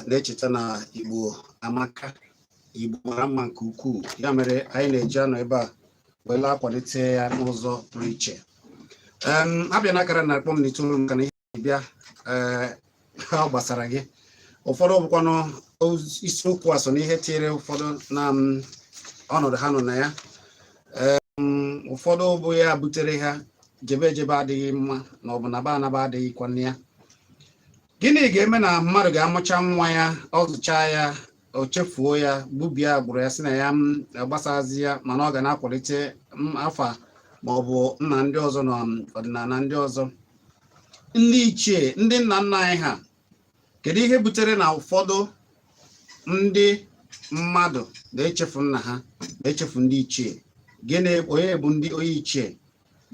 na-echeta na Igbo amaka Igbo mara mma nke ukwuu ya mere anyị na-eji anọ ebe a wee na-akwalite ya n'ụzọ pụrụ iche abịa na akara na akpọ m n'itoolu maka na ihe bịa eh, ha gbasara gị ụfọdụ bụkwanụ isiokwu a so n'ihe tinyere ụfọdụ na ọnọdụ ha nọ na ya ụfọdụ bụ ya butere ha jebe ejebe adịghị mma na ọ bụ naba anaba adịghịkwana ya gịnị ga-eme na mmadụ ga-amụcha nwa ya ọ zụchaa ya o chefuo ya gbubie agbụrụ ya sị na ya agbasazị ya mana ọ ga na-akwalite afa ma ọ bụ nna ndị ọzọ na ọdịnala ndị ọzọ ndị ichie ndị nna nna anyị ha kedu ihe butere na ụfọdụ ndị mmadụ na-echefu nna ha na-echefu ndị ichie gịnị onye bụ ndị onye ichie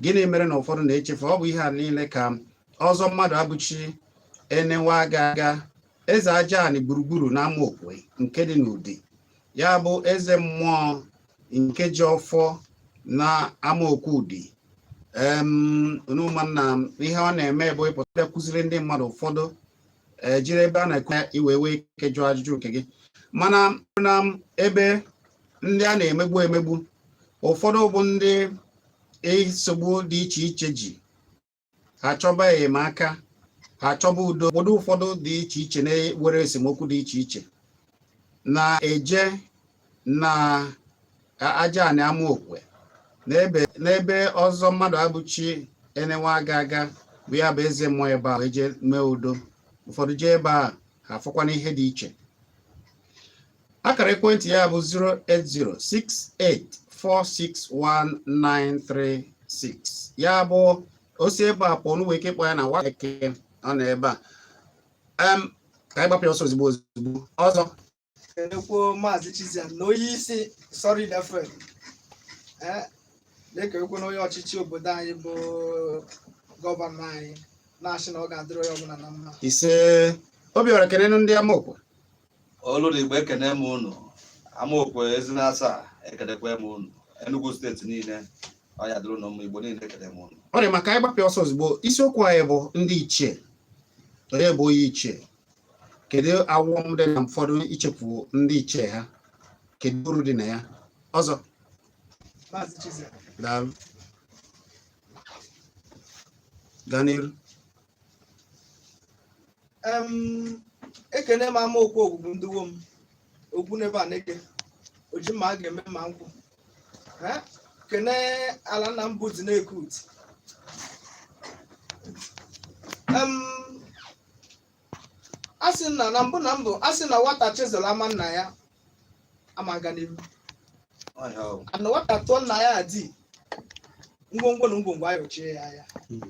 gịnị mere na ụfọdụ na-echefu ọ bụ ihe a niile ka ọzọ Mmadụabụchi enewa aga aga eze Ajanị gburugburu na Amaokwe nke dị n'Udi ya bụ eze mmụọ nke ji ọfọ na Amaokwe Udi ụmụnna ihe ọ na-eme bụ ịpụta kụziri ndị mmadụ ụfọdụ e, jiri ebe a na-ekwu ya i wee nwee ike jụọ ajụjụ nke gị mana na ebe ndị a na-emegbu emegbu ụfọdụ bụ ndị nsogbu dị iche iche ji ha chọba enyemaka ha chọba udo obodo ụfọdụ dị iche iche na-ewere esemokwu dị iche iche na-eje na Ajanị Amaokwe n'ebe ọzọ Mmadụabụchi enewa aga aga bụ ya bụ eze mmụọ ebe ahụ jee mee udo ụfọdụ jee ebe a ha afụkwana ihe dị iche akara ekwentị ya bụ 08068461936 ya bụ o si ebe a pụọ i nwee ike kpọọ ya na wa eke ọ nọ ebe a Em, ka anyị gbapịa ọsọ ozugbo ozugbo ọzọ Ekwuo Maazị Chiziam na onye isi Sorry Dafred ee dịka ekwu na onye ọchịchị obodo anyị bụ gọvanọ anyị na-asị na ọ ga-adịrị onye ọbụla na mma ise obiọra kenenu ndị Amaokwe olu na igbo ekene m unu amaokwe ezi na asaa ekenekwa m unu Enugu steeti niile ọ ya-adịrị unu mma igbo niile ekene m unu ọ dị mma ka anyị gbapịa ọsọ ozugbo isiokwu anyị bụ ndị ichie onye bụ onye ichie kedu aghọm dị na ụfọdụ ichefu ndị ichie ha kedu uru dị na ya ọzọ daalụ gaa n'iru Em, ekene m ama okwu ogbugbu ndị wo m okwu n'ebe a na-eke oji ma a ga-eme ma nkwụ Eh, kene ala nna m bụ dị na-ekut Em, a sị na na mbụ na mbụ a sị na nwata chezọrọ ama nna ya ama aga n'ihu Ọhịa ọgwụ. ana nwata tụọ nna ya di ngwongwo na ngwongwo ayọchie ya anya Mm.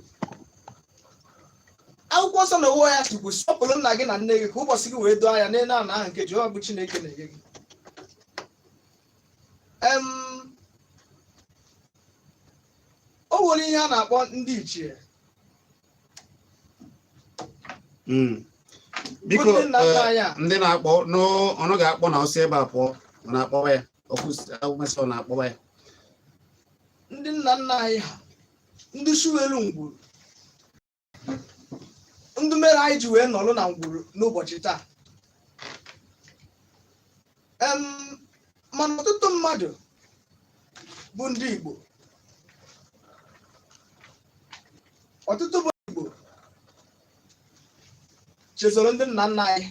akwụkwọ nsọ n'onwe ya sịkwu sọpụrụ nna gị na nne gị ka ụbọchị gị wee doo anya n'elu ala ahụ nke jehova bụ chineke na-enye gị Em, o nwere ihe a na-akpọ ndị ichie hmm. biko eh, ndị na-akpọ n'ọnụ ga-akpọ na o si ebe a pụọ na-akpọwa ya ọ kwụsị na-akpọwa ya ndị nna nna anyị ha ndị suwelu ngwuru ndị mere anyị ji wee nọrọ na ngwuru n'ụbọchị taa Em, mana ọtụtụ mmadụ bụ ndị Igbo ọtụtụ bụ Igbo chezoro ndị nna nna anyị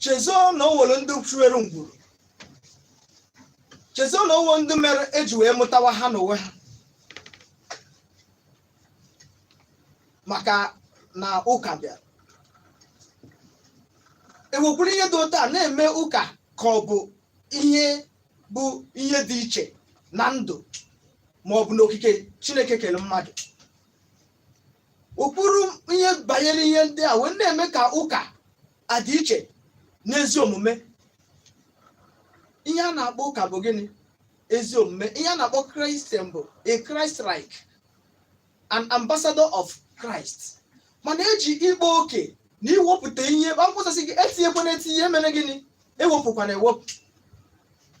chezoo na o nwere ndị suwelu ngwuru chezoo na o nwere ndị mere eji wee mụtawa ha n'onwe ha maka na ụka bịara ewekwuru ihe dị otu a na-eme ụka ka ọ bụ ihe bụ ihe dị iche na ndụ ma ọ bụ n'okike chineke kere mmadụ ụkpụrụ ihe banyere ihe ndị a wee na-eme ka ụka adị iche n'ezi omume ihe a na-akpọ ụka bụ gịnị ezi omume ihe a na-akpọ christian bụ a christ like an ambassador of christ mana eji ịkpa oke na iwepụta ihe akwụkwọ nsọ sị gị etinyekwana etinye mere gịnị ewepụkwana ewepụ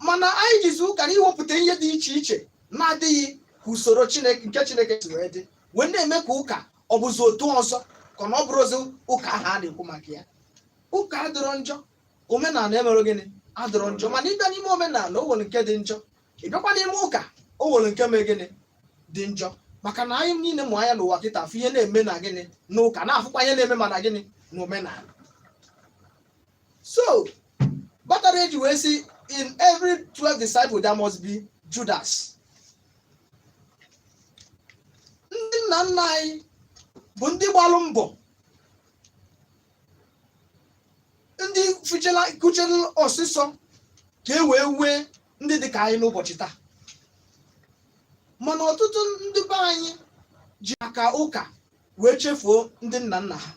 mana anyị jizi ụka na iwepụta ihe dị iche iche na-adịghị ka usoro chineke nke chineke si wee dị wee na-eme ka ụka ọ bụzi otu ọzọ kama ọ bụrụzi ụka ahụ a na-ekwu maka ya ụka adịrọ njọ omenala emere gịnị adịrọ njọ mana ị bịa n'ime omenala o nwere nke dị njọ ị bịakwa n'ime ụka o nwere nke mee gịnị dị njọ maka na anyị niile mụ anya n'ụwa kịta afụ ihe na-eme na gịnị n'ụka na-afụkwa ihe na-eme ma na gịnị na omenala so kpatara eji wee sị in every 12 disciple there must be Judas ndị nna nna anyị bụ ndị gbalụ mbọ ndị kuchela ọsịsọ ka e wee nwee ndị dị ka anyị n'ụbọchị taa mana ọtụtụ ndị be anyị ji maka ụka wee chefuo ndị nna nna ha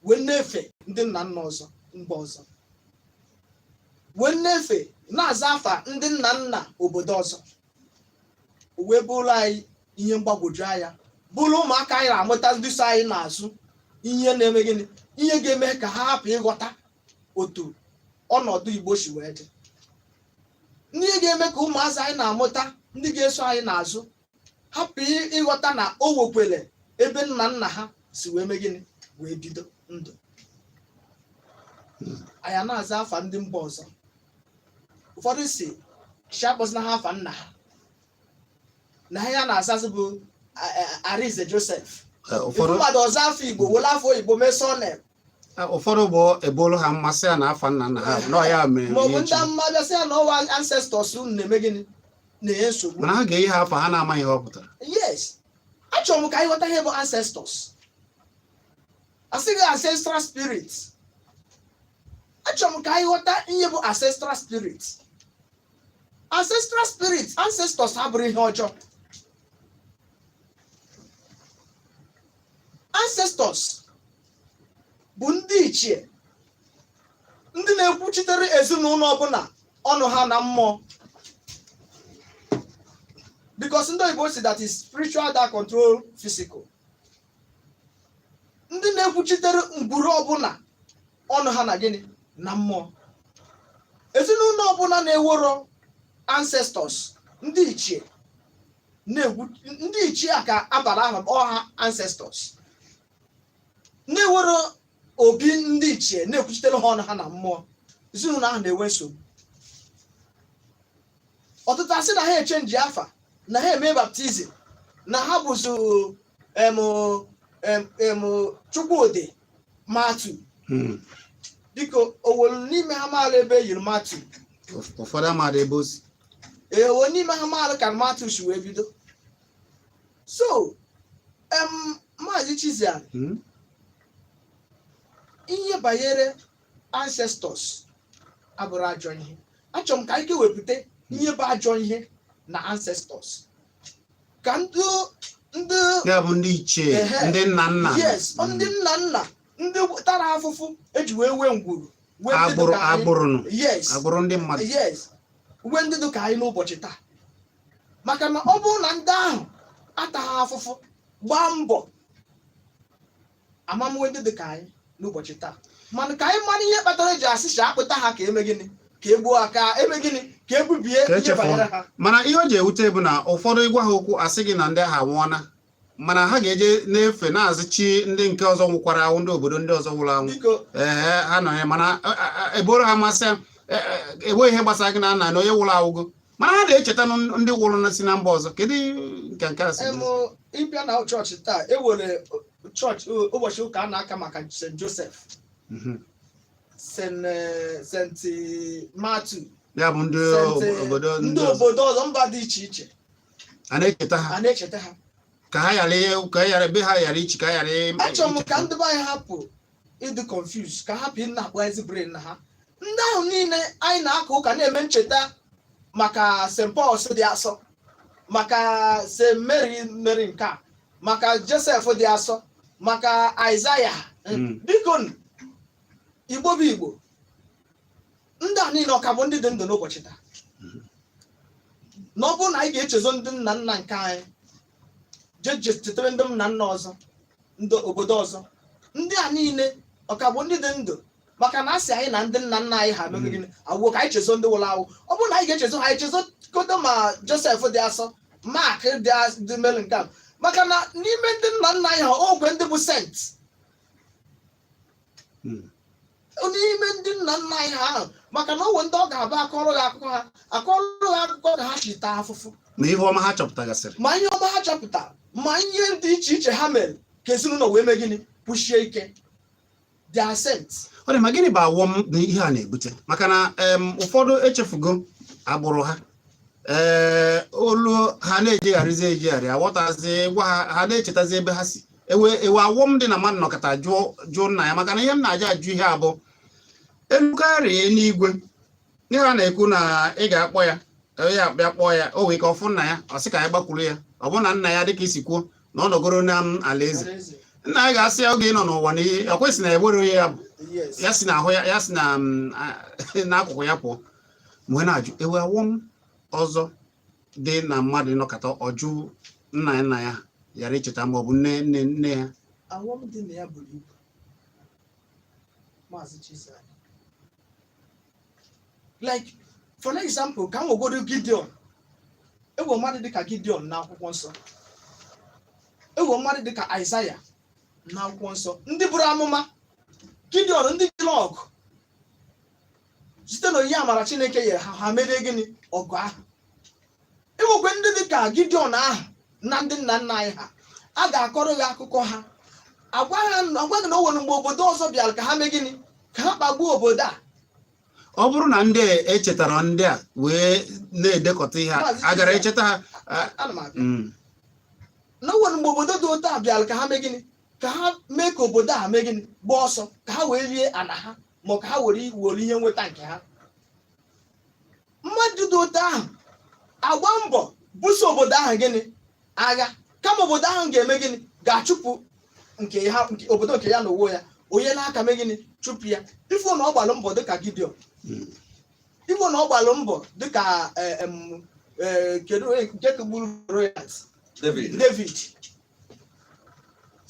wee na-efe ndị nna nna ọzọ mba ọzọ wee na-efe na-aza afa ndị nna nna obodo ọzọ o wee bụrụ anyị ihe mgbagwoju anya bụrụ ụmụaka anyị na-amụta ndị so anyị n'azụ ihe na-eme gịnị ihe ga-eme ka ha hapụ ịghọta otu ọnọdụ igbo si wee dị n'ihe ga-eme ka ụmụazị anyị na-amụta ndị ga-eso anyị n'azụ hapụ ị- ịghọta na o nwekwere ebe nna nna ha si wee mee gịnị wee bido ndụ anyị na-aza afa ndị mba ọzọ ụfọdụ sị sị akpọzina ha afa nna ha na ha ya na-azazi bụ a- a- arize josef Eh, ị fụ ụfọdụ mmadụ ọ zaa afa igbo were afa oyibo mee surname eh, ụfọdụ bụ e buolu ha amụma sị ya na afa nna nna ha na ọ ya mere maọbụ ihe ndị echi. mmadụ sị ya na ọ wụ ancestors unu na-eme gịnị na-enye nsogbu mana ha ga-eyi ha afa ha na-amaghị ihe ọ pụtara yes achọrọ m ka anyị ghọta ihe bụ ancestors asịghị ancestral spirit achọrọ m ka anyị ghọta ihe bụ ancestral spirit ancestral spirit ancestors abụrọ ihe ọjọọ ancestors bụ ndị ichie ndị na-ekwuchitere ezinụlọ ọbụla ọnụ ha na mmụọ because ndị oyibo sị that is spiritual that control physical ndị na-ekwuchitere ngwuru ọbụla ọnụ ha na gịnị na mmụọ ezinụlọ ọbụla na-enwerọ ancestors ndị ichie na-ekwu ndị ichie a ka a bara aha our ancestors na-enwerọ obi ndị ichie na-ekwuchitere ha ọnụ ha na mmụọ ezinụlọ ahụ na-enwe nsogbu ọtụtụ asị na ha echenji afa na ha eme baptizim na ha bụzi em em em chukwudị matthew Hmm. dịka o nwerọ n'ime ha maara ebe e liri matthew Ụf- ụfọdụ amaghị ebe o si o nwerọ n'ime ha maara ka matthew si wee bido so em maazị chizian Hmm. ihe banyere ancestors abụrọ ajọ ihe achọrọ m ka anyị kewepụta ihe bụ ajọ ihe na ancestors ka ndị ndị ya bụ ndị ichie Ehe. ndị nna nna yes ọ ndị nna nna ndị tara afụfụ eji wee nwee ngwuru nwee ndị agbụrụ dịka anyị. agbụrụ nụ yes agbụrụ ndị mmadụ yes nwee ndị dị ka anyị n'ụbọchị taa maka na ọ bụrụ na ndị ahụ ataghị afụfụ gbaa mbọ a ma-enwe ndị dị ka anyị n'ụbọchị taa mana ka anyị mara ihe kpatara eji asị si akpụta ha ka eme gịnị ka egbuo ha ka eme gịnị ka egbubie Ka ihe echefuru. banyere ha mana ihe o ji ewute bụ na ụfọdụ ịgwa ha okwu asị gị na ndị ahụ anwụọna mana ha ga-eje na-efe na-azụ chi ndị nke ọzọ nwụkwara anwụ ndị obodo ndị ọzọ nwụrụ anwụ biko ee ha nọ ya mana a- a- a- eboro ha masị ya e- e- enweghị ihe gbasara gị na nna na onye nwụrụ awụgo mana ha na-echeta ndị wụrụ na si na mba ọzọ kedu nke nke a sị ị bịa na chọọchị taa e were chọọchị ụbọchị ụka a na-aka maka St. Joseph mhm. St. Eh, Matthew ya bụ ndị eh, obodo ndị obodo ọzọ mba dị iche iche a na-echeta ha a na-echeta ha ka ha ghara ka ghara ebe ha ghara ichi ka ha ghara achọrọ m ka ndị be anyị hapụ ịdị confuse ka hapụ ịna-akpọ ezi brain na ha ndị ahụ niile anyị na-aka ụka na-eme ncheta maka st paul dị asọ maka st mary mary nke a maka josef dị asọ maka aịzaya Mm. bikonụ, igbo bụ igbo ndị a niile ọ ka bụ ndị dị ndụ n'ụbọchị taa na ọ bụrụ na anyị ga-echezo ndị nna nna nke anyị jee chetere ndị nna nna ọzọ ndị obodo ọzọ ndị a niile ọ ka bụ ndị dị ndụ maka na asị anyị na ndị nna nna anyị ha mere gịnị awụwo ka anyị chezo ndị nwụrụ anwụ ọ bụrụ na anyị ga-echezo ha anyị chezo kodo ma josef dị asọ mark dị as- dị mary nke a maka na n'ime ndị nna nna anyị ha o nwe ndị bụ saint Hmm. n'ime ndị nna nna anyị ha ahụ maka na o nwe ndị ọ ga-abụ akọrọ gị akụkọ ha akọrọ gị akụkọ ka ha si taa afụfụ ma ihe ọma ha chọpụtagasịrị ma ihe ọma ha chọpụtara ma ihe dị iche iche ha mere ka ezinụlọ wee mee gịnị kwụsie ike they are saints ọ dị mma gịnị bụ awọm na ihe a na-ebute maka na em, ụfọdụ echefugo agbụrụ ha ee olu ha na-ejegharịzi ejegharị aghọtazi gwa ha ha na-echetazi ebe ha si ewe ewe awọm dị na mmadụ nọkata jụọ jụọ nna ya maka na ihe m na-eji ajụ ihe a bụ e lukarịa n'igwe n'ihe a na-ekwu na ị ga-akpọ ya onye a bịa kpọọ ya o wee ka ọ fụ nna ya ọ sị ka ya gbakwuru ya ọ bụ na nna ya dịka i si kwuo na ọ nọgoro na m alaeze nna ya ga-asị ya oge ị nọ n'ụwa na ihe ọ kwa ị sị na ewere onye ya bụ ya si na ahụ ya ya si na mm, a- n'akụkụ ya pụọ m wee na-ajụ ewe awọm ọzọ dị na mmadụ ịnọkata ọ jụ nna ya nna ya ghara icheta ma ọ bụ nne nne nne ya awọm dị na ya buru ibu maazị Chisa like for example ka m wegodo Gideon ewe mmadụ dịka Gideon na akwụkwọ nsọ ewe mmadụ dịka Aịzaya na akwụkwọ nsọ ndị buru amụma Gideon ndị jere ọgụ site na onyinye amara chineke nyere ha ha merie gịnị ọgụ ahụ enwekwe ndị dị ka gideon ahụ na ndị nna nna anyị ha a ga-akọrọ gị akụkọ ha agwa gị na o nwere mgbe obodo ọzọ bịara ka ha mee gịnị ka ha kpagbuo obodo a ọ bụrụ na ndị echetara ndị a wee na-edekọta ihe a gara echeta ha na o nwere mgbe obodo dị otu a bịara ka ha mee gịnị ka ha mee ka obodo a mee gịnị gbaa ọsọ ka ha wee rie ana ha ma ka ha were were ihe nweta nke ha mmadụ dị otu ahụ agba mbọ buso obodo ahụ gịnị agha kama obodo ahụ ga-eme gịnị ga-achụpụ obodo nke ya na onwe ya o nye aka mee gịnị chụpụ ya ị fụ na ọ gbalụ mbọ dịka gideon ị fụ na ọ gbalụ mbọ dịka eh, em, eh, kedu nke gburu david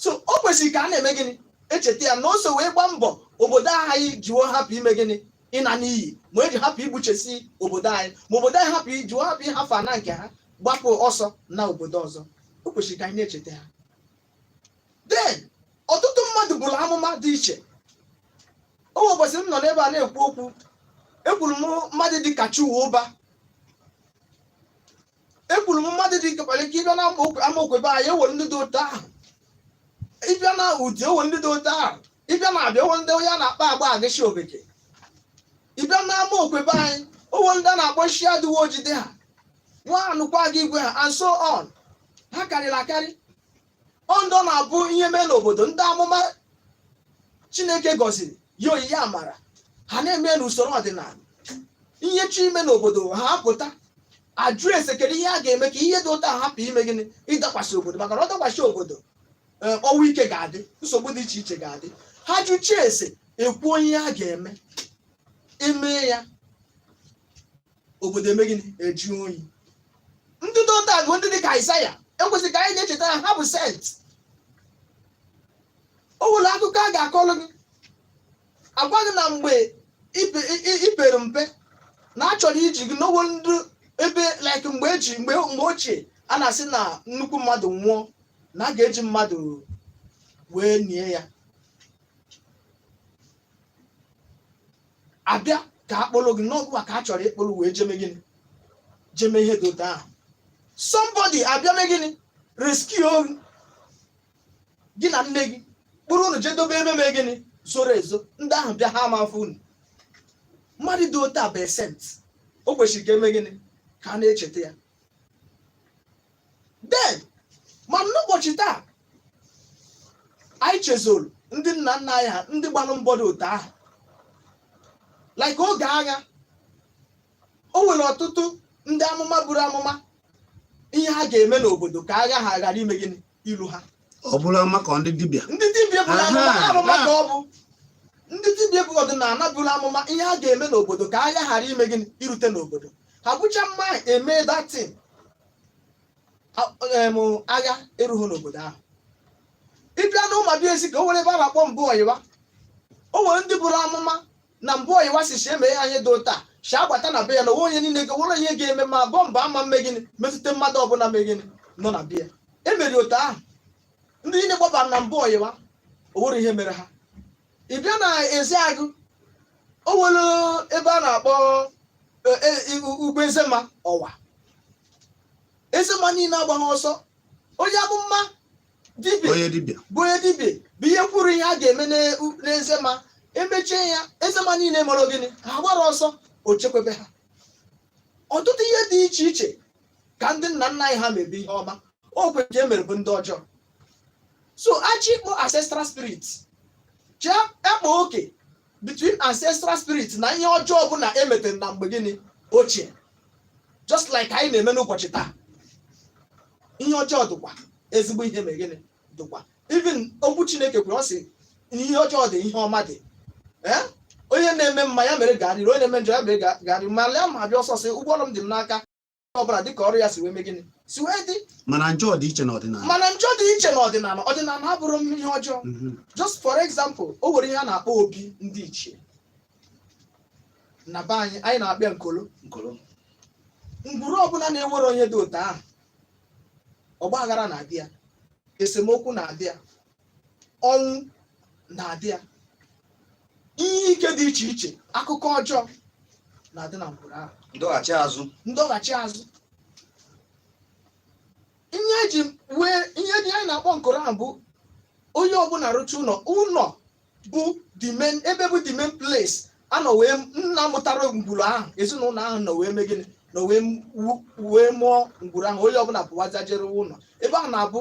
so o kwesịrị ka a na-eme gịnị echeta ya na o so wee gbaa mbọ obodo anyị jiwo hapụ ime gịnị ịna n'iyi ma eji hapụ igbuchesi obodo anyị ma obodo anyị jiwo hapụ ịhafụ ana nke ha gbapụ ọsọ na obodo ọzọ o kwesịrị ka anyị na-echeta ha then ọtụtụ mmadụ buru amụma dị iche o nwe ụbọchị m nọ n'ebe a na-ekwu okwu ekwuru m mmadụ dị ka Chuwuba ekwuru m mmadụ dị ka okpalike ị bịa na amaokwe be anyị enwere ndị dị otu ahụ ị bịa na udi enwe ndị dị otu ahụ ị bịa na abia enwe ndị onye a na-akpọ agba agịshi obeke ị bịa na amaokwe be anyị o nwe ndị a na-akpọ nshi adịwo ojide ha nwa anụkwa gị igwe ha and so on ha karịrị akarị ọ ndị na-abụ ihe mee n'obodo ndị amụma chineke gọziri nye onyinye amara ha na-eme n'usoro ọdịnala ihe chọọ ime n'obodo ha apụta ajụ ese kedu ihe a ga-eme ka ihe dị otu a hapụ ime gịnị ịdakwasị obodo maka na ọ dakwasị obodo ee, ọnwụ ike ga-adị nsogbu dị iche iche ga-adị ha jụchie ese ekwuo ihe a ga-eme emee ya obodo eme gịnị ajụ oyi ndị dị otu a bụ ndị dị ka Aịzaya ekwesịrị ka anyị na-echeta na ha bụ sent o nwere akụkọ a ga-akọrọ gị agwa gị na mgbe i pere mpe na a chọrọ iji gị na o nwere ndị ebe like mgbe ochie a na-asị na nnukwu mmadụ nwụọ na a ga-eji mmadụ wee nie ya abịa ka akpọrọ gị na ọ gụwa ka a chọrọ ịkpọrọ wee jeme gịnị jeme ihe dị otu ahụ somebody abịa mee gịnị rescue gị na nne gị kpụrụ unu jee dobe ebe mee gịnị zoro ezo ndị ahụ bịa ha ama afụ unu mmadụ dị otu a bụ sent o kwesịrị ka eme gịnị ka a na-echeta ya then ma n'ụbọchị taa anyị chezoro ndị nna nna anyị ha ndị gbalụ mbọ dị otu ahụ like oge agha o nwere ọtụtụ ndị amụma buru amụma ihe ha ga-eme n'obodo ka agha ha ghara ime gịnị iru ha ọ bụrụ maka ndị dibịa ndị dibịa buru Aha, amụma ha amụma aha. ka ọ bụ ndị dibịa bụ ọdịnala buru amụma ihe ha ga-eme n'obodo ka agha ghara ime gịnị irute n'obodo ha bucha amụma ahụ e mee that thing agha erughi n'obodo ahụ ị bịa na Ụmụabị Ezike o nwere ebe a na-akpọ mbụ ọyịwa o nwere ndị buru amụma na mbụ ọyịwa sị shị e mee ihe dị otu a shi agbata na be ya na onwe onye niile ga nwere ihe ga-eme ma bomb ama mme gịnị metụta mmadụ ọbụla mee gịnị nọ na be ya e mere otu ahụ ndị niile gbabara na mbụ ọyịwa o nwerọ ihe mere ha ị bịa na Ezeagụ o nwere ebe a na-akpọ e, e, i- u- ugwu Ezema Ọwa Ezema niile agbaghị ọsọ onye amụma dibịa onye dibịa bụ onye dibịa bụ ihe kwuru ihe a ga-eme n'e- n'Ezema emechie ya Ezema niile mere gịnị ha agbarọ ọsọ o chekwebe ha ọtụtụ ihe dị iche iche ka ndị nna nna anyị ha mebe ihe ọma okwe nke e mere bụ ndị ọjọọ so a chọọ ịkpọ ancestral spirit shị a kpaa oke between ancestral spirit na ihe ọjọọ ọbụla emetere na mgbe gịnị ochie just like anyị na-eme n'ụbọchị taa ihe ọjọọ dịkwa ezigbo ihe mee gịnị dịkwa even okwu chineke kwuru ọ sị ihe ọjọọ dị ihe ọma dị Eh? onye na-eme mma ya mere garịrị onye na-eme njọ ya mere ga- garịrị ma lee m abịa ọsọsọ ụgwọ ọrụ m dị m n'aka ọbụla dịka ọrụ ya si wee mee gịnị si wee dị mana njọ dị iche n'ọdịnala ọdịnala abụrọ ihe ọjọọ Mhm. just for example o nwere ihe a na-akpọ obi ndị ichie na be anyị anyị na-akpọ ya nkolo Nkolo. ngwuru ọbụla na-enwerọ ihe dị otu ahụ ọgba aghara na-adị ya esemokwu na-adị ya ọnwụ na-adị ya ihe ike dị iche iche akụkọ ọjọọ na-adị na ngwuru ahụ ndọghachi azụ ndọghachi azụ ihe eji wee ihe dị anyị na-akpọ nkoro ahụ bụ onye ọbụla rụcha ụlọ ụlọ bụ the main ebe bụ the main place a nọ wee nna mụtara ngwuru ahụ ezinụlọ ahụ nọ wee mee gịnị nọ wee wu- wee mụọ ngwuru ahụ onye ọbụla pụwaza je rụọ ụlọ ebe ahụ na-abụ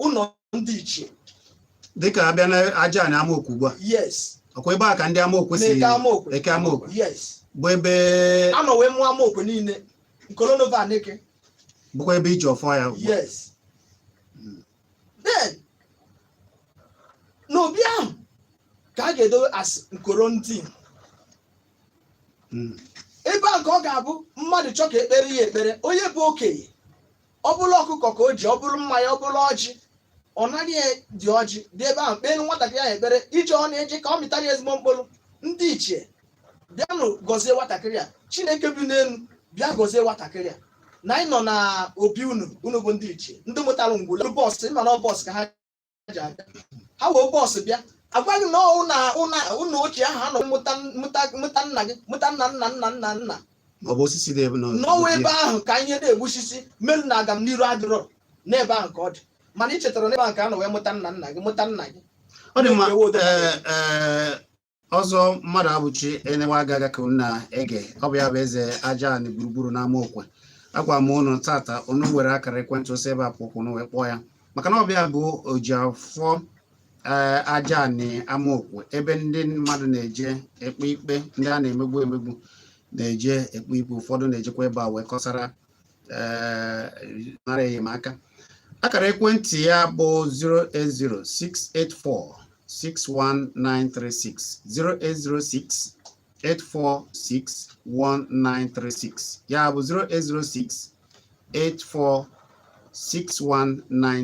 ụlọ ndị ichie dịka a bịa na aja anị amaokwe ugbu a yes ọkwa ebe a ka ndị amaokwe si na-eke amaokwe eke amaokwe yes bụ ebe a nọ wee mụọ amaokwe niile nkolonova aneke bụkwa ebe e ji ọfọ ya ugbu a. yes then n'obi ahụ ka a ga-edowe as nkoro ndị Mm. ebe a ka ọ ga-abụ mmadụ chọọ ka e kpeere ya ekpere onye bụ okenye ọ bụrụ ọkụkọ ka o ji ọ bụrụ mmanya ọ bụrụ ọjị ọ nara ya dị ọjị dị ebe ahụ kpeelu nwatakịrị ahụ ekpere ije ọ na-eje ka ọ mịtara ya ezigbo mkpụrụ ndị ichie bịanụ gọzie nwatakịrị a chineke bi n'elu bịa gọzie nwatakịrị a na anyị nọ na obi unu unu bụ ndị ichie ndị mụtara ngwụla bọọsụ ịma na ọ bọọsụ ka ha ji abịa ha wee bọs bịa agwa ha na ọ ụnọ ụnọ ụnọ ochie ahụ a nọ mụta mụta mụta nna gị mụta nna nna nna nna nna ọ bụ osisi na-ebu na n'ọnwa ebe ahụ ka ihe na-egbu osisi melu na agam n'iru adịrọ n'ebe ahụ ka ọ dị mana ị chetara n'ebe ahụ ka a nọ wee mụta nna nna gị mụta nna gị ọ dị mma Ewu odo. ee, ee, ọzọ mmadụabụchi enewe agaga ka unu na-ege ọ bụ ya bụ eze aja anị gburugburu n'ama okwe agwa m unu taata unu were akara ekwentị o si ebe a pụ ka unu wee kpọọ ya maka na ọ bụ ya bụ oji ọfọ ee aja anị ama okwe ebe ndị mmadụ na-eje ekpe ikpe ndị a na-emegbu emegbu na-eje ekpe ikpe ụfọdụ na-ejekwa ebe a wee kọsara eh, nara enyemaka akara ekwentị ya bụ 08068461936 08068461936 ya bụ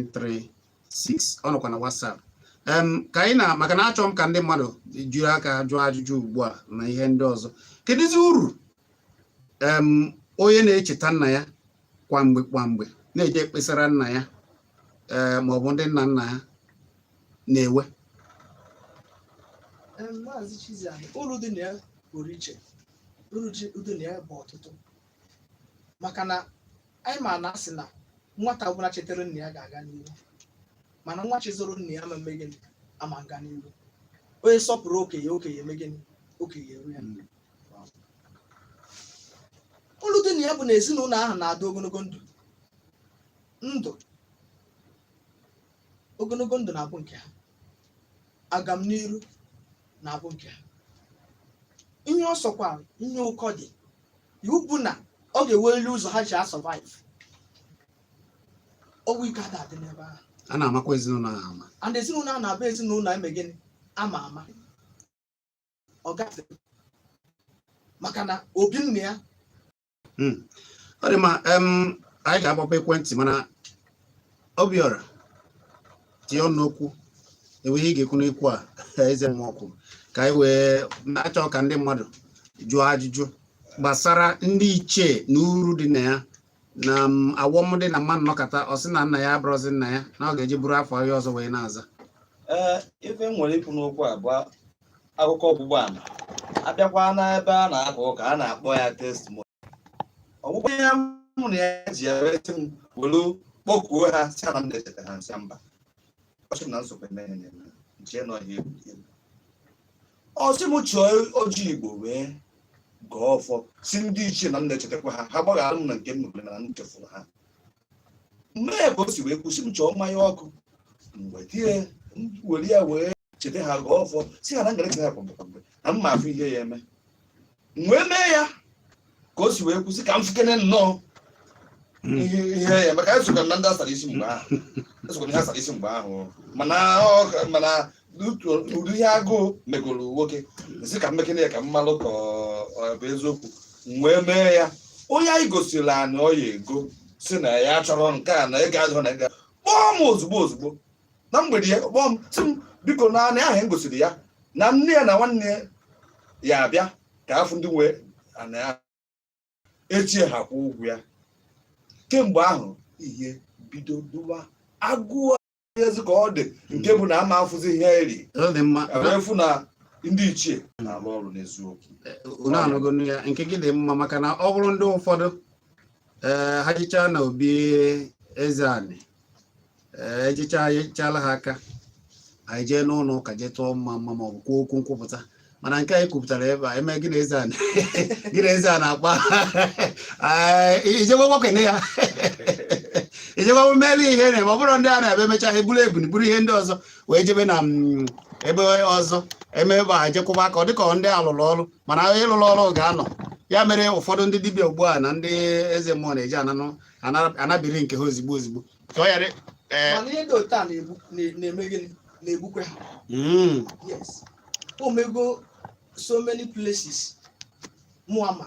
08068461936 ọ nọkwa na WhatsApp ka anyị na maka na achọ m ka ndị mmadụ jiri aka jụọ ajụjụ ugbu a na ihe ndị ọzọ kedụzi uru onye na-echeta nna ya kwa mgbe kwa mgbe na-eje ekpesara nna ya eh, ma ọ bụ ndị nna nna ya na-enwe maazị Chizzy uru dị na ya pụrụ iche uru dị na ya bụ ọtụtụ maka na anyị ma na a sị na nwata ọbụla chetere nna ya ga-aga n'ihu mana nwa chezoro nna ya ama mme gịnị ama nga n'ihu onye sọpụrụ okenye okenye eme gịnị okenye eru ya hmm. uru dị na ya bụ na ezinụlọ ahụ na-adị ogologo ndụ ndụ ogologo ndụ na-abụ nke ha agam n'iru na-abụ nke ha ihe ọ sọkwa ihe ụkọ dị iwu bụ na ọ ga-enweriri ụzọ ha ji a-survive ọnwụ ike ada adị n'ebe ahụ a na-amakwa ezinụlọ ahụ ama and ezinụlọ a na-abụ ezinụlọ eme gịnị ama ama ọ gafere maka na obi nne ya hmm. ọ dị mma anyị ga-agbape ekwentị mana Obiora tinye ọnụ n'okwu e nwee ihe ị ga-ekwu n'okwu a eze mmụọ kwuru ka anyị wee na-achọ ka ndị mmadụ jụọ ajụjụ gbasara ndị ichie na uru dị na ya na awọm dị na mmadụ nọkata ọ sị na nna ya abụrọzi nna ya na ọ ga-eje buru afa onye ọzọ wee na-aza ee ife m nwere ikwu n'okwu a bụ akụkọ ọgbụgba ama a bịakwa n'ebe a na-aka ụka a na-akpọ ya testimony ọgwụgwọ ihe mụ na ya ji ya resị m were kpọkuo ha sị ana m na-echeta ha m sị mba ọ sị na nsogbu emeghị na nche nọ ihe egwu ọ sị m chọọ ọjị Igbo wee gọọ ọfọ sị ndị ichie na m na-echetakwa ha ha gbaghara m na nke m mere na m chefuru ha m mee ya ka o si wee kwuo sị m chọọ mmanya ọkụ m wete ya were ya wee cheta ha gọọ ọfọ sị ha na m ga na-echeta ha kwa mgbe kwa mgbe na m ma afụ ihe ya eme wee mee ya ka o si wee kwuo sị ka m fụkene nnọọ hmm. ihe ya maka esokwa na ndị asara isi mgbe ahụ esokwa na ihe asara isi mgbe ahụ mana mana ụdị ihe agụụ megoro nwoke sị ka m mekene ya ka m malụ ka ọ bụ eziokwu wee mee ya onye anyị gosiri ana ọ ya-ego sị na ya achọrọ nke a na ego adịrọ na ego kpọọ m ozugbo ozugbo na mgbede ya kpọọ m sị m biko na ana ahụ m gosiri ya na nne ya na nwanne ya abịa ka a fụ ndị nwe ana ya echi ha kwụọ ụgwọ ya kemgbe ahụ ihe bido dụwa agụụ ezi ka ọ dị nke bụ na ama afụzi ihe eri fụ na ndị ichie na-alụ ọrụ n'eziokwu eh, unu anụgo ya nke gị dị mma maka na ọ bụrụ ndị ụfọdụ eh, ha jechaa na obi eze anị ee ejecha enyechala ha aka ha ejee n'ụlọ ụka jee tụọ mma mma ma ọ bụ kwuo okwu nkwupụta mana nke anyị kwupụtara ebe a eme gị na eze a na- gị na eze a na-akpa Ee, ijebe gbakene ya ijebe mere ihe na-eme ọ bụrụ ndị a na-ebe emecha ha eburu ebunu buru ihe ndị ọzọ wee jebe na mm, ebe ọzọ eme ebe a jekwụba aka ọ dịka ọ ndị a lụrụ ọrụ mana onye lụrụ ọrụ ga-anọ ya mere ụfọdụ ndị dibịa ugbu a na ndị eze mmụọ na-eji ananụ ana- anabiri nke ha ozigbo ozigbo ka ọ ghara ee mana ihe dị otu a na-egbu na- na-eme gịnị na-egbukwe ha mm, yes o mego so many places mụ ama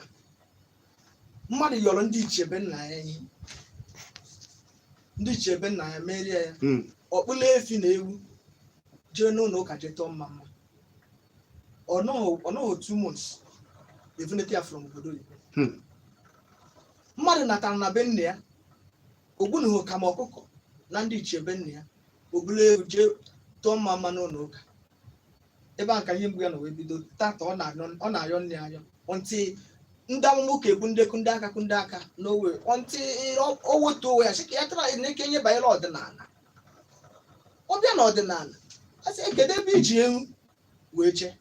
mmadụ yọrọ ndị ichie be nna ya ihe ndị ichie be nna ya meere ya mm, ọ kpụlụ efi na ewu jee n'ụlọ ụka jee tụọ mma mma ọ nọghị ọ nọghị two months evunata ya from obodo oyibo Hmm. mmadụ natara na be nna ya o gbunuhu ka ma ọkụkọ na ndị ichie be nna ya ọ kpụrụ ewu jee tụọ mma mma n'ụlọ ụka ebe a ka ihe mgbu ya nọ wee bido tata ọ na-arịọ ọ na-arịọ nne ya arịọ ntị ndị amụma ụka egbu ndị kụ ndị aka kụ ndị aka n'owe ntị o wetuo onwe ya sị ka ya tara na-eke ihe banyere ọdịnala ọ bịa na ọdịnala a sị kedu ebe i ji ewu wee jee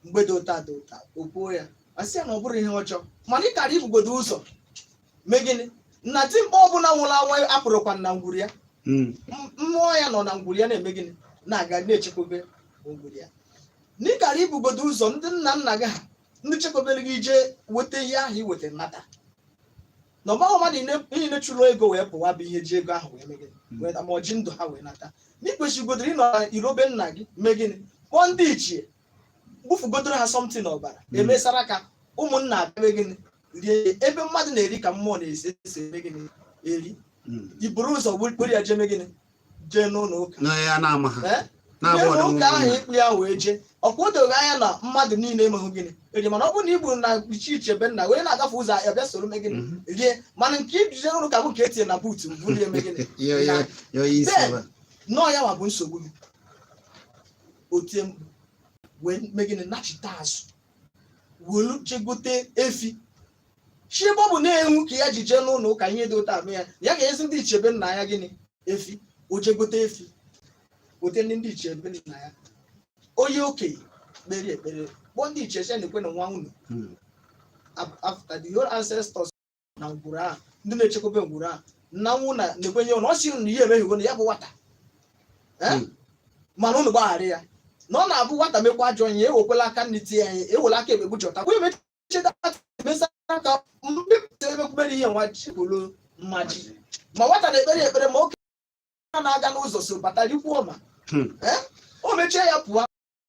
mgbe dị otu a dị otu a o kwuo ya a sị ya na ọ bụrọ ihe ọjọọ mana ị kara ibugodo ụzọ mee gịnị na dimkpa ọbụla nwụrụ anwụ apụrọkwa na ngwuru ya mm. mmụọ ya nọ na ngwuru ya na-eme gịnị na-aga na-echekwebe ngwuru ya na ị kara ibugodo ụzọ ndị nna nna gị ha ndị chekwabere gị i jee weta ihe ahụ i weta nata na ọ bụghọ mmadụ niile chụrụ ego wee pụwa bụ ihe ji ego ahụ wee mee gịnị hmm. wee ma o ji ndụ ha wee nata na i kwesịgodoro ịnọ na iro be nna gị mee gịnị kpọọ ndị ichie gbufugodoro ha something ọbara hmm. emesara ka ụmụnna abịa mee gịnị rie ya ebe mmadụ na-eri ka mmụọ na-esi esi eme gịnị eri Mm. i buru ụzọ kpụrụ ya jee mee gịnị jee n'ụlọ ụka na ya na-ama ha Eh? na-abụ Jee ọdịmma n'ụka ahụ ị kpụ ya wee jee ọkwa o doghị anya na mmadụ niile emeghị gịnị eri mana ọ bụrụ na ị gburu na ichie be nna onye na-agafe ụzọ ya bịa soro mee gịnị Mhm. rie mana nke i ji je ụlọ ụka bụ nke e tinye na buutu mbụ rie mee gịnị ya ya ya onye isi Then, ebe a. na ọ ya nwa bụ nsogbu gị otie mkpu wee mee gịnị nachite azụ welu jegote efi sị ebe ọ bụ na ewu ka ya ji jee n'ụlọ ụka ihe dị otu a emee ya ya ga-ezi ndị ichie be nna ya gịnị efi o jegote efi gote ndị ndị ichie be nna ya onye okenye kpere ekpere kpọọ ndị ichie sị nekwenụ nwa unu after the whole ancestors na ngwuru ahụ ndị na-echekwaba ngwuru ahụ na nwa unu nekwenụ ya na ọ sị na ya emehie na ya bụ nwata Eh? Hmm. mana unu gbaghara ya na ọ na-abụ nwata mekwa ajọ ihe ewekwela aka nri tie ya ewela aka ekpe kpuchọta kwa emecheta emesa aka mbipụta emekwubere ihe nwa ji bụrụ mmaji ma nwata na-ekpere ya ekpere ma oke na-aga n'ụzọ so bata rikwuo ma Hmm. Eh? o mechie ya pụọ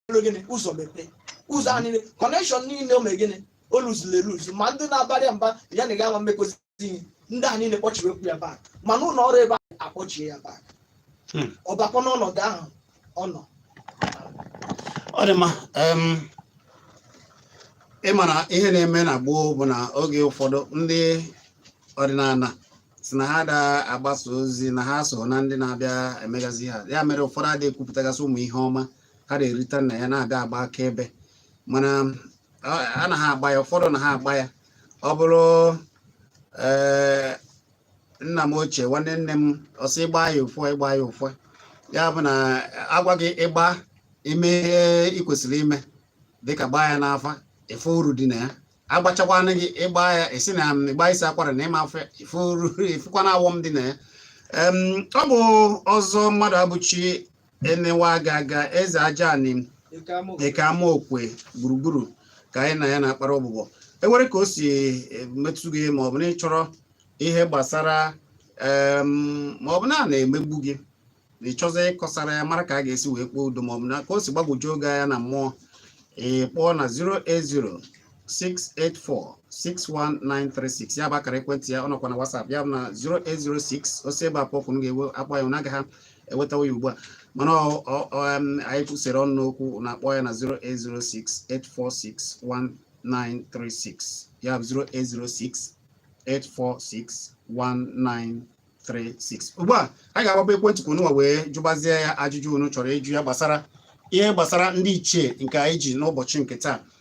mere gịnị ụzọ mepee ụzọ a niile connection niile o mere gịnị o luzuru eluzu ma ndị na-abara ya mba ya na ga-ama mmekozi ihe ndị a niile kpọchiri oku ya back ma n'ụlọ ọrụ ebe a akpọchie ya back Hmm. ọ bakwa n'ọnọdụ ahụ ọ nọ ọ dị mma em, ị ma na ihe na-eme na gboo bụ na oge ụfọdụ ndị ọdịnala sị na ha da agbasa ozi na ha so na ndị na-abịa emegazi ha ya mere ụfọdụ adịghị ekwupụtagasị ụmụ ihe ọma a na-erita na ya na-aga agba akaebe mana anaha agba ya ụfọdụ anaha agba ya ọ bụrụ eh, nna m ochie nwanne nne m ọ sị ịgba ya ụfọ ịgba ya ụfọ ya bụ na a gwa gị ịgba ime ihe ị kwesịrị ime dịka gbaa ya n'afa ị fụ uru dị na ya a gwachakwanụ gị ịgba ya esi na um, ịgba isi akwara na ị ma afụ ife uru ị fụkwanụ awọm dị na ya ọ bụ Ọzọ Mmadụabụchi Ene nwa aga aga eze Ajanị nke Amaokwe gburugburu ka anyị na ya na-akpara ọbụbọ e nwere ka o si eh, metụ gị ma ọ bụ na ị chọrọ ihe gbasara ma ọ bụ na a na-emegbu gị na ị chọzi ịkọsara ya mara ka a ga-esi wee kpee udo ma ọ bụ na ka o si gbagwojuo gị anya na mmụọ ị kpọọ na 08068461936 ya bụ akara ekwentị ya ọ nọkwa na WhatsApp ya bụ na 0806 o si ebe a kpọ oku m ga-ewe akpọ ya na ọ gaghị ewetawa ya ugbu a mana anyị sere ọnụ n'okwu na-akpọ ya na 08068461936 ya bụ 08068461936 ugbu a anyị ga-agbape ekwentị ka ununwa wee jụbazie ya ajụjụ unu chọrọ ịjụ ya gbasara ihe gbasara ndị ichie nke anyị ji n'ụbọchị nke taa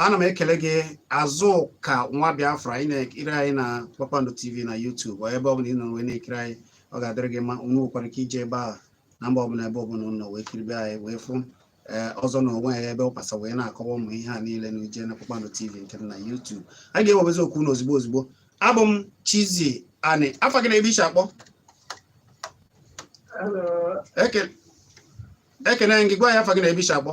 ana m ekele gị Azụka nwa Biafra ị na-ekiri anyị na Kpakpando TV na YouTube ebe ọ bụla ị nọ wee na-ekiri anyị ọ ga-adịrị gị mma unu nwekwara ike ije ebe a na mba ọbụla ebe ọbụla unu nọ wee kiribe anyị wee fụ eh, Ọzọ na onwe ya ebe ọ kpasa wee na-akọwa ụmụ ihe a niile na ije na Kpakpando TV nke na YouTube anyị ga-ewebezi oku na ozugbo ozugbo abụ m Chizzy Ani afa gị na ebe i shi akpọ ekene m gị gwa anyị afa gị na ebe i shi akpọ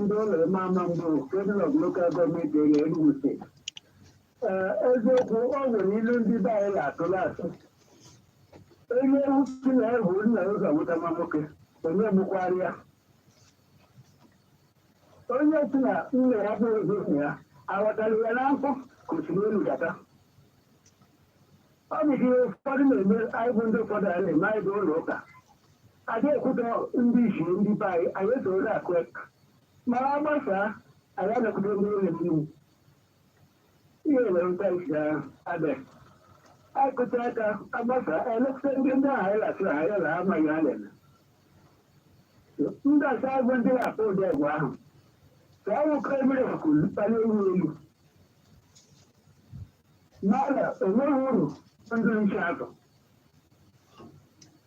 ndị ụlọ ime ama mbụ President of Local Government Area Enugu State. Ee, eziokwu o nwere ilu ndị be anyị na-atụ la-asị onye si na ya bu nna ụzọ nwụta nwa nwoke onye mụkwara ya onye si na nna ya bụ ụzọ nna ya aghọtara ya na nkụ ka osimiri elu gata ọ bụ ihe ụfọdụ na-eme anyị bụ ndị ụfọdụ a na-eme anyị bụ ụlọ ụka A da ekwutọ ndị ichie ndị be anyị anyị esoro akụ eka ma a gbasaa anyị anakwute ndị ụlọ mmiri ihe mere mkpa isi ahụ abịa anyị kụta aka a gbasaa elekọta ndị ndị ahụ anyị lasịrị anyị ala amaghị ha na-eme ndị asa agwụ ndị na-akpọ ụdị egwu ahụ ka ọ nwoke ebere kwuru kpali ewu elu mana enweghị uru ndị nche azụ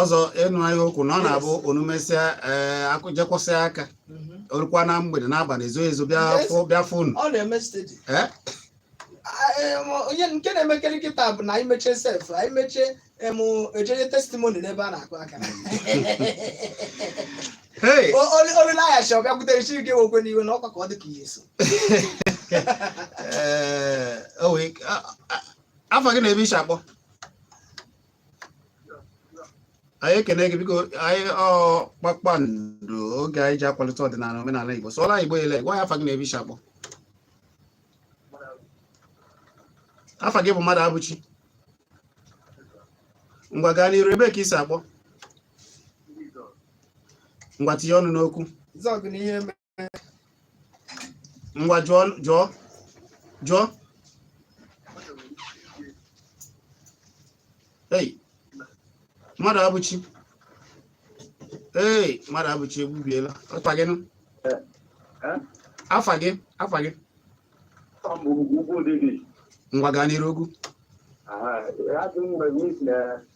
ọzọ ịnụ anyị okwu na ọ na-abụ unu mesịa eh, akụjekwụsị aka mhm. o rukwa na mgbede n'abalị ezo ezo bịa fụ unu eh? onye nke na-emekere nkịta bụ na anyị mechie sef anyị mechie emu ejere testimoni n'ebe a na-akụ aka olileaghachi ọ bịakwutere chi gị nwekwe n'iwe na ọkwa ka ọ dị ka ihe so eh, afa gị na ebe i si akpọ anyị ekene gị biko anyị kpakpando oge anyị ji akwalite ọdịnala omenala Igbo sụọla Igbo ele gwa anyị afa gị na ebe i si akpọ afa gị bụ Mmadụabụchi ngwa gaa n'iru ebee ka i si akpọ ngwa tinye ọnụ n'okwu ngwa jụọ jụọ jụọ ei Mmadụabụchi ee Mmadụabụchi egbubiela afa gị nụ afa gị afa gị ngwa gaa n'iru ogwu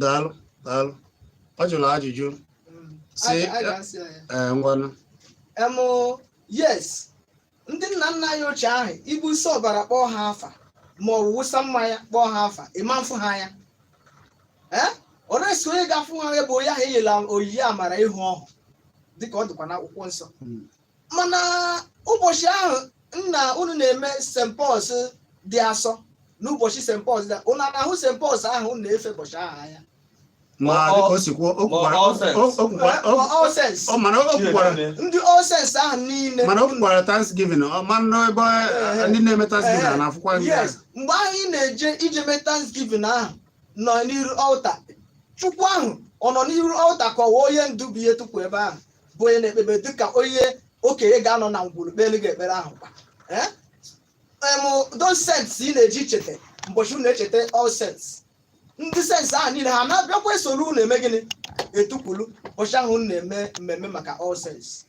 daalụ daalụ ọ jụrụ ajụjụ sị ee ngwanụ em yes ndị nna nna anyị ochie ahụ i gbusi ọbara kpọọ ha afa ma ọ wụ wụsa mmanya kpọọ ha afa ị ma afụ ha anya ee oresi onye ga-afụ ha anya bụ onye ahụ e nyela onyinye amara ịhụ ọhụ dịka ọ dịkwa n'akwụkwọ nsọ mana ụbọchị ahụ nna unu na-eme St. Paul's dị asọ n'ụbọchị St. Paul's dị unu na-ahụ St. Paul's ahụ unu na-efe ụbọchị ahụ anya ma Ma ọ- dịka o si kwuo o ma kwukwara All Saints. o- o kwukwara- o- Ma All Saints. o- mana o kwukwara ndị All Saints ahụ niile mana o kwukwara Thanksgiving ị manụ ebe Ehe. ndị na-eme Thanksgiving Ehe. a na-afụkwa ndị yes ahụ. mgbe ahụ ị na-eje ije mee thanksgiving ahụ nọ n'iru altar Chukwu ahụ ọ nọ n'iru altar ka ọ wụ onye ndu bụ ihe tukwu ebe ahụ bụ onye na-ekpebe dị ka onye okenye ga-anọ na ngwuru kpere gị ekpere ahụ kwa Eh? Em, those saints ị na-eji cheta mbọchị unu echeta All Saints ndị saints ahụ niile ha na-abịakwa esoro unu eme gịnị etukwulu ụbọchị ahụ unu na-eme mmemme maka All Saints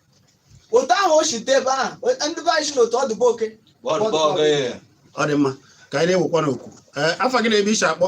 otu ahụ o si dị ebe ahụ ndị be anyị sị n'otu ọ dị be oke Bọọdụ bọọdụ ee. ọ dị mma ka anyị na-ewekwanụ oku Ee, afa gị na ebe i si akpọ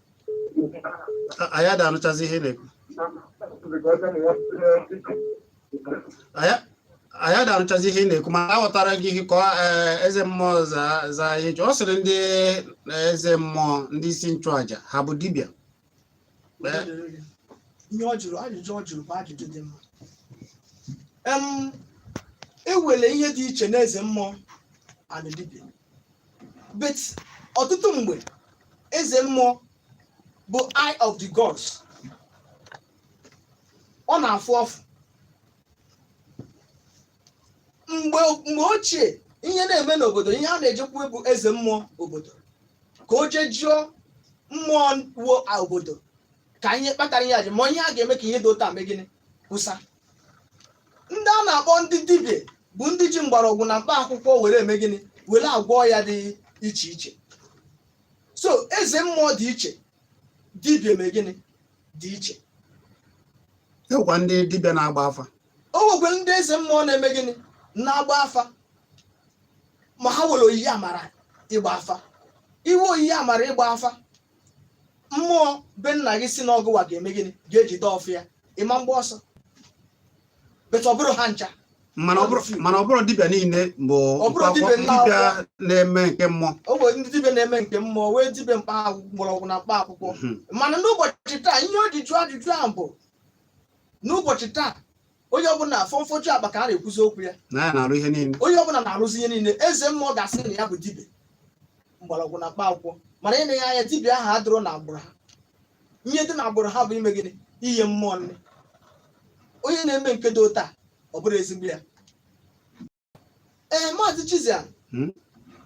anyị ada anụchazi ihe na-ekwu anyị ada anụchazi ihe ị na-ekwu ma aghọtara gị ihe ka eh, eze mmụọ za ihe ọ sịrị ndị eh, eze mmụọ ndị isi nchụaja ha bụ dibịa eh, ihe ọ jụrụ ajụjụ ọ jụrụ bụ ajụjụ dị mma e nwere ihe dị iche n'eze mmụọ and dibịa but ọtụtụ mgbe eze mmụọ bụ eye of the gods ọ na-afụ ọfụ mgbe mgbe ochie ihe na-eme n'obodo ihe a na-ejekwu bụ eze mmụọ obodo ka o jee jụọ mmụọ nwe obodo ka ihe kpatara ihe a jee ma ihe a ga-eme ka ihe dị otu a mee gịnị kwụsa ndị a na-akpọ ndị dibịa bụ ndị ji mgbọrọgwụ na mkpa akwụkwọ were eme gịnị were agwọ ọya dị iche iche so eze mmụọ dị iche dibịa eme gịnị dị iche e nwekwa ndị dibịa na-agba afa o nwekwara ndị eze mmụọ na-eme gịnị na-agba afa ma ha nwere onyinye amara ịgba afa i nwee onyinye amara ịgba afa mmụọ be nna gị sị na ọ gụwa ga-eme gịnị ga-ejide ọfọ ya ị ma mgba ọsọ but ọ bụrọ ha ncha mana ọ bụrọ mana ọ bụrọ dibịa niile bụ Ọ bụrụ mkpa akwụkwọ- dibịa nna dibịa akwụkwọ. na-eme nke mmụọ o nwere ndị dibịa na-eme nke mmụọ nwee dibịa mkpa akwụkwọ mgbọrọgwụ na mkpa akwụkwọ Mhm. mana n'ụbọchị taa ihe o ji jụọ ajụjụ ahụ bụ n'ụbọchị taa onye ọbụla fọmfọju akpa ka a na-ekwuzi okwu ya na ya na-arụ ihe niile onye ọbụla na-arụzi ihe niile eze mmụọ ga-asị na ya bụ dibịa mgbọrọgwụ na mkpa akwụkwọ mana i nee ya anya dibịa ahụ adịrọ na agbụrụ ha ihe dị na agbụrụ ha bụ ime gịnị ihe mmụọ nne onye na-eme nke dị otu a ọ bụrọ ezigbo ya ee maazị Chizia Hmm?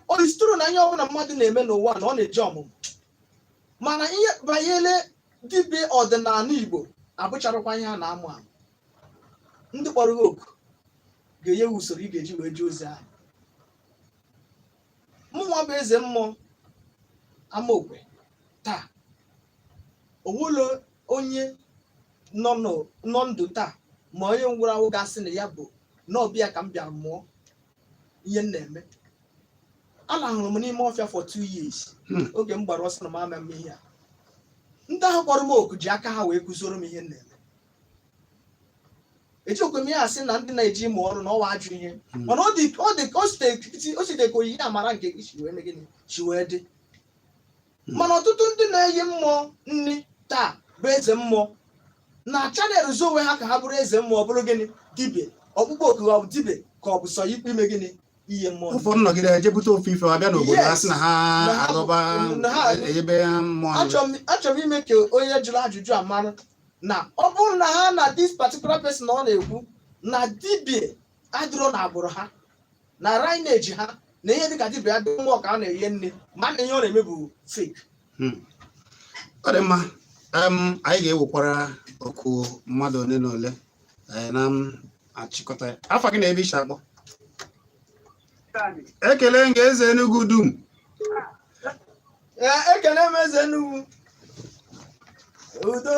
o is true na ihe ọbụla mmadụ na-eme n'ụwa na ọ na-eji ọmụmụ mana ihe banyere dibịa ọdịnala Igbo abụcharakwa ihe a na-amụ amụ ndị kpọrọ gị oku ga-enye gị usoro ị ga-eji wee jee ozi ahụ mụnwa bụ eze mmụọ Amaokwe taa o nwelọ onye nọ n'ụ- nọ ndụ taa ma onye nwụrụ anwụ ga-asị na ya bụ na ọ be ya ka m bịara mụọ ihe m na-eme alahụrụ m n'ime ọfịa for two years Hmm. oge m gbara ọsọ na m ama eme ihe a ndị ahụ kpọrọ m oku ji aka ha wee kụzioro m ihe m na-eme ejirọkwa m ya asị na ndị na-eje ịmụ ọrụ na ọ wụ ajọ ihe Hmm. mana ọ dị ọ dị ka o site o site ka onyinye amara nke gị si wee mee gịnị si wee dị hmm. mana ọtụtụ ndị na-enye mmụọ nri taa bụ eze mmụọ na-achanelụzi onwe ha ka ha bụrụ eze mmụọ ọ bụrụ gịnị dibia ọkpụkpọ oku ha bụ dibia ka ọ bụ sọ ikpe ime gịnị ihe mmụọ ụfọdụ nọgide eje bute ofu ife abịa n'obodo ha sị na ha agọba ebe ha mmụọ achọrọ m ime ka onye jụrụ ajụjụ a mara na ọ bụrụ na ha na this particular person ọ na-ekwu na dibia adịrọ na agbụrụ ha na lineage ha na ihe dịka dibịa adị mmụọ ka a na-enye nri ma na ihe ọ na-eme bụ fake hmm. ọ dị mma anyị ga-ewekwara oku mmadụ ole na ole eh, na achịkọta ya afa gị na ebe i si akpọ ekele m ga-eze Enugu dum eh, ekele m eze Enugu udo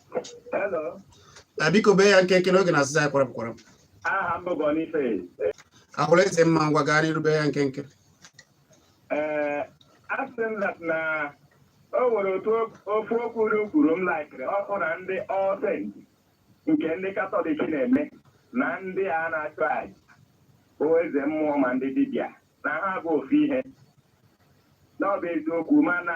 hello biko bee ya nkenke na oge na-asịzi anyị kwarapụ kwarapụ aha m bụ Boniface ahụrụ eze mma ngwa gaa n'iru bee ya nkenke ee asị m na o nwere otu ofu okwu o kwuru m laikiri ọ bụ na ndị ọsent nke ndị katọlik na-eme na ndị a na-achụ aja bụ eze mmụọ ma ndị dibịa na ha bụ ofu ihe na ọ bụ eziokwu mana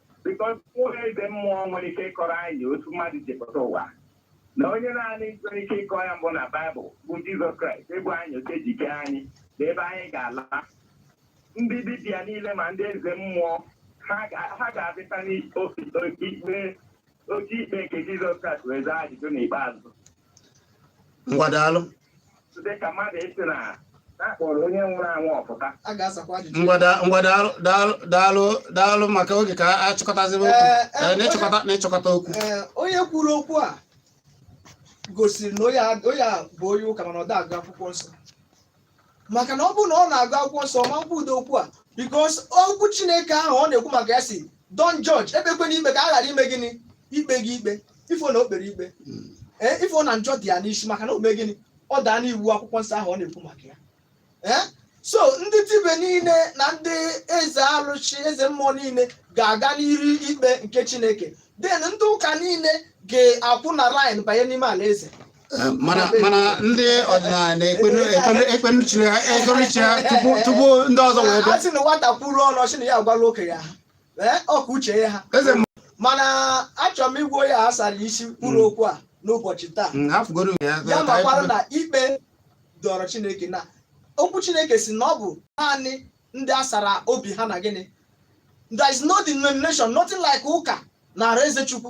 because o nwere eze mmụọ nwere ike ịkọrọ anyị otu mmadụ ji pụta ụwa na onye naanị nwere ike ịkọ ya mbụ na baịbụl bụ jizọs kraịst ịgwa anyị otu e ji kee anyị na ebe anyị ga-ala ndị dibịa niile ma ndị eze mmụọ ha ga- ha ga-abịata n'ikpe oke ikpe nke jizọs kraịst wee zaa ajụjụ n'ikpeazụ ngwa daalụ dịka mmadụ ịsị na a kpọrọ onye nwụrụ anwụ ọ pụta a ga-asakwa ajụjụ ngwa da- ngwa daalụ daalụ daalụ daalụ maka oge ka a chịkọtazibe okwu Ee, ee, Ee, n'ịchịkọta n'ịchịkọta okwu Ee, onye kwuru okwu a gosiri na onye a- onye a bụ onye ụka mana ọ da agụ akwụkwọ nsọ maka na ọ bụrụ na ọ na-agụ akwụkwọ nsọ ma kwudo okwu a because okwu chineke ahụ ọ na-ekwu maka ya sị don't judge ekpekwana ikpe ka a ghara ime gịnị ikpe gị ikpe ị fụ na o kpere ikpe ee ị fụ na njọ dị ya n'isi maka na o mee gịnị ọ daa n'iwu akwụkwọ nsọ ahụ ọ na-ekwu maka ya ee so ndị dibe niile na ndị eze arụsị eze mmụọ niile ga-aga n'iru ikpe nke chineke then ndị ụka niile ga-akwụ na line banye n'ime ala eze mana mana ndị ọdịnala na-ekpenu chi ha ekpenu chi ha tupu ndị ọzọ wee bịa. a sị na nwata kwuru ọnụ ọ sị na ya agwala okenye ha ee ọka uche ya ha mana achọrọ m ịgwa onye a sara isi kwuru mm. okwu a n'ụbọchị taa mm, ya makwara na ikpe dịrị chineke na okwu chineke sị na ọ bụ naanị ndị a sara obi ha na gịnị there is no denomination nothing like ụka n'ala eze chukwu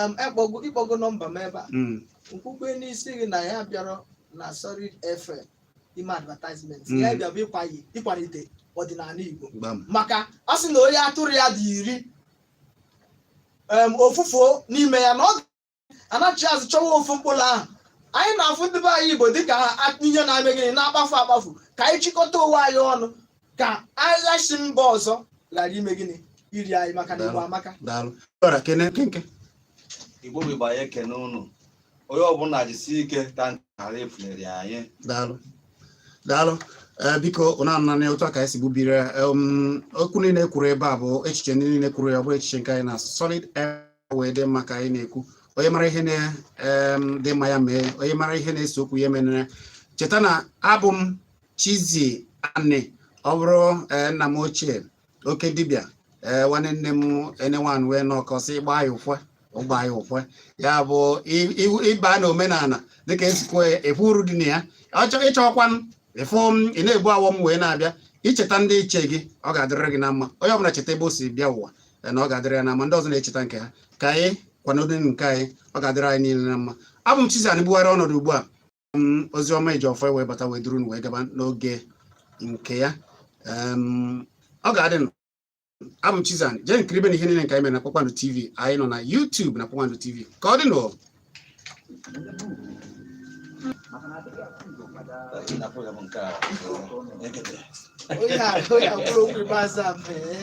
Em, e kpọgo ị kpọgo nọmba m ebe a Mm. nkwukwe n'isi gị na anyị abịarọ na solid fm ime advertisement Mm. ya bịa bụ ịkwayi- ịkwalite ọdịnala igbo Gbam. maka a sị na onye atụrụ ya dị iri em, ofu fuo n'ime ya na ọ anachi azụ chọwa ofu mkpụrụ ahụ anyị na-afụ ndị be anyị igbo dịka ha a- ihe na-eme gịnị na-akpafu akpafu ka anyị chịkọta onwe anyị ọnụ ka agha si mba ọzọ ghara ime gịnị iri anyị maka na igbo amaka daalụ ọra kene nkenke igbo bụ igbo anyị ekene unu onye ọbụla jisi ike ka nke a ghara efunara anyị daalụ daalụ ee biko na-ananị otu a ka anyị si gbubire em, okwu niile kwuru ebe a bụ echiche ndị niile kwuru ya ọ bụ echiche nke anyị na solid ihe dị mma ka anyị na-ekwu onye mara ihe na em, dị mma ya mee onye mara ihe na-ese okwu ya emenere cheta na abụ m Chizzy Anị ọ bụrụ eh, nna m ochie oke dibịa ee eh, nwanne nne m enewan wee n'ọkọsị ịgba ya ụfwe ịgba ya ụfwe ya bụ ịba na omenala dịka esikwe efu uru dị na ya ị chọkwa ịfụ m ị na-ebu awọ m wee na-abịa i cheta ndị ichie gị ọ ga-adịrịrị gị na mma onye ọbụla cheta ebe o si bịa ụwa eh, na ọ ga-adịrị ya na mma ndị ọzọ na-echeta nke ha ka anyị kwanodonu nke anyị ọ ga-adịrị anyị niile na mma abụ m Chizzy Anị bugharịa ọnọdụ ugbu a ozi ọma e ji ọfọ wee bata wee duru wee gaba n'oge nke ya ọ ga-adị nụ abụ m Chizzy Anị jeenụ kiribenụ ihe niile nke anyị mere na Kpakpando TV anyị nọ na YouTube na Kpakpando TV ka ọ dị nụ Oya, oya, kwuru okwu ikpeazụ a mee.